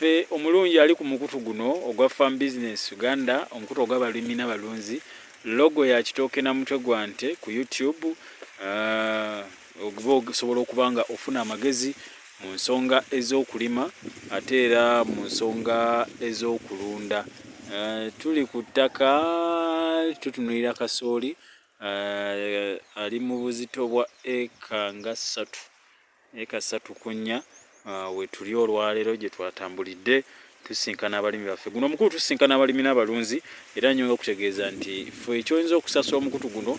Ffe omulungi ali ku mukutu guno ogwa Farm Business Uganda, omukutu ogw'abalimi n'abalunzi, logo ya kitooke na mutwe gwa nte ku YouTube ah, oguba osobola okuba nga ofuna amagezi mu nsonga ez'okulima ate era mu nsonga ez'okulunda. Eh, tuli ku ttaka tutunulira kasooli eh, ali mu buzito bwa eka nga ssatu. Eka ssatu ku nnya ah, wetuli olwaleero gye twatambulidde tusinkana abalimi baffe guno omukulu tusinkana abalimi n'abalunzi era nnyonga okutegeeza nti fe ekyoyinza okusasula omukutu guno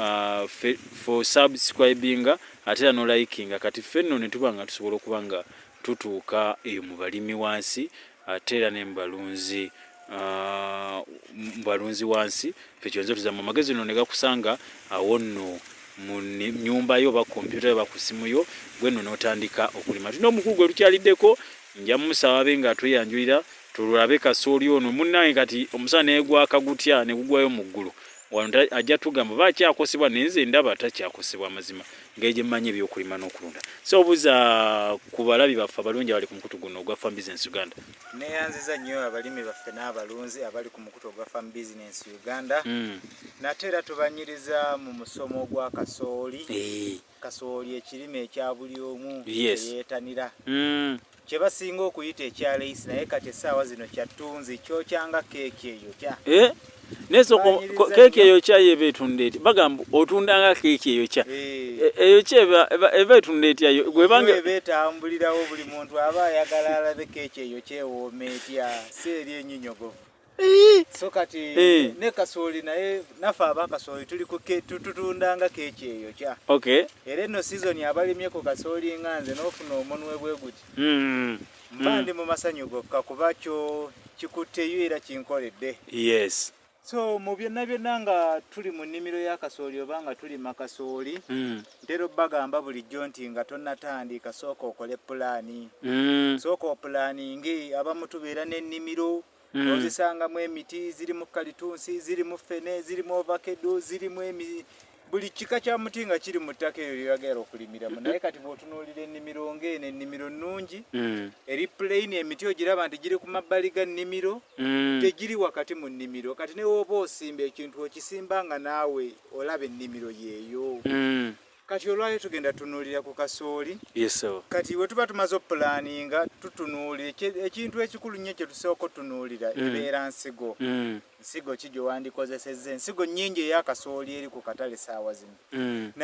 ah, fe subscribinga ate era nolayikinga kati ffe nno ne tuba nga tusobola okuba nga tutuuka eyo mu balimi wansi ate era ne mubalunzi ah, mubalunzi wansi fe kyonze tuzamu amagezi no negakusanga awo nno mu nyumba yo oba kompyuta yo oba ku simu yo gwe nno n'otandika okulima tulina omukulu gwe lukyaliddeko nja mumusaba abe nga atweyanjulira tululabe kasooli ono munnange kati omusana negwaka gutya negugwayo mu ggulu wano ajja tugamba oba akyakosebwa naye nze ndaba takyakosebwa amazima ngeri gye mmanyi ebyokulima n'okulunda so obuza ku balabi baffe abalungi abali ku mukutu guno ogwa farm business uganda neyanziza nnyo abalimi baffe n'abalunzi abali ku mukutu ogwa farm business uganda hmm. nate era tubanyiriza mu musomo gwa kasooli eh. kasooli ekirime ekya buli omu eyeetanira hmm. kye basinga okuyita ekya leisi naye kati essaawa zino kya ttunzi kyokya nga keeki eyo kya eh? neso keeki eyo kya yeba etunda eti bagamba otunda nga keeki eyo kya eh. e, eyo kya eba etunda etya gwebange eba etambulirawo buli muntu aba ayagala alabe keeki eyo kyewooma etya si eri enyinyogovu so kati eh. ne kasooli naye nafe aba kasooli tuli tutundanga keeki eyo kya okay. era eno sizoni abalimyeko kasooli nga nze n'ofuna omunwe bwe guti mm. mba mm. ndi mu masanyu gokka kuba kyo kikutteyo era kinkoledde yes so mu byonna byonna nga tuli mu nnimiro ya kasooli oba nga tulima kasooli mm. ntera obbagamba bulijjo nti nga tonnatandika sooka okole pulaani mm. sooka opulaaninge abamu tubeera n'ennimiro mm. ozisangamu emiti zirimu kalitunsi zirimu fene zirimu ovakedo zirimu emi buli kika kya muti nga kiri mu ttaka eyo lyoyagala okulimiramu naye kati bwotunuulira ennimiro ngaeno ennimiro nnungi mm. eri plain emiti ogiraba nti giri ku mabbali ga nnimiro mm. tegiri wakati mu nnimiro kati newooba osimba ekintu okisimba nga naawe olaba ennimiro yeeyo mm. Kati olwayo tugenda tunuulira ku kasooli. Yes sir. Kati we tuba tumaze opulaninga tutunuulira ekintu ekikulu nnyo kye tusooka otunuulira mm. ebeera nsigo. Mm. Nsigo ki gye wandikozesezza ensigo nnyingi ey'akasooli eri ku katale saawa zino. Mm.